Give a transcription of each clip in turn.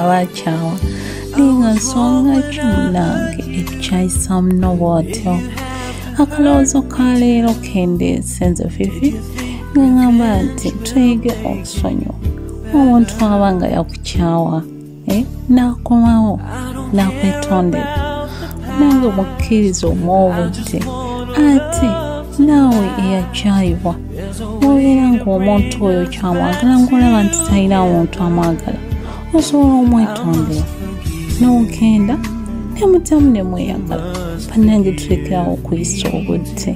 abakyawa linga nsonga ki munange ekyayisamu nobwotyo akalowoozo ka leero kendeese nze fifi nga ngamba nti tuyige okusonyiwa omuntu aba nga yakukyawa eh, nakomawo nakwetondera nange mukkiriza omwobuti ate naawe eyakyayibwa obeera ng'omuntu oyo kyamwagala ng'olaba nti talina muntu amwagala osobola omwetondera n'ogenda nemutamu ne mweyagala bannange tulekerawo okuyisa obudde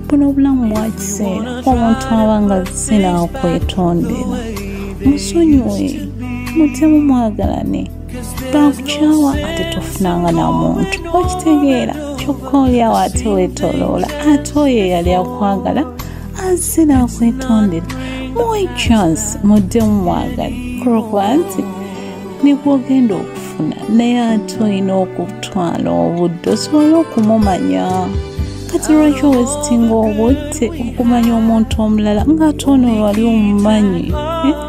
buno obulamu bwa kiseera omuntu aba nga zisina okwetondera musonyiwe mutemu mwagalane bankukyawa ate tofunanga na muntu okitegeera kyokka olyawo ate wetoloola ate oyo eyali akwagala azze nakwetondera muwe chance mudde mumwagala kulwokuba nti nikwogenda okufuna naye ate olina okutwala obudde osobole okumumanya kati lwaki owesitinga obudde okumanya omuntu omulala ngaate ono wali omumanyi eh?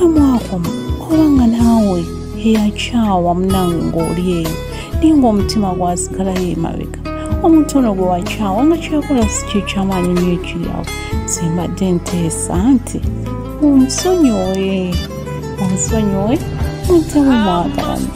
we mwakoma oba nga naawe eyakyawa munange ng'oli eyo naye ng'omutima gwasigalayo emabega omuntu ono gwe wakyawa nga kyakola si kyekyamaanyi nyo ekiryawo simbadde nteesa nti onsonyiwe onsonyiwe mutewe mwagalana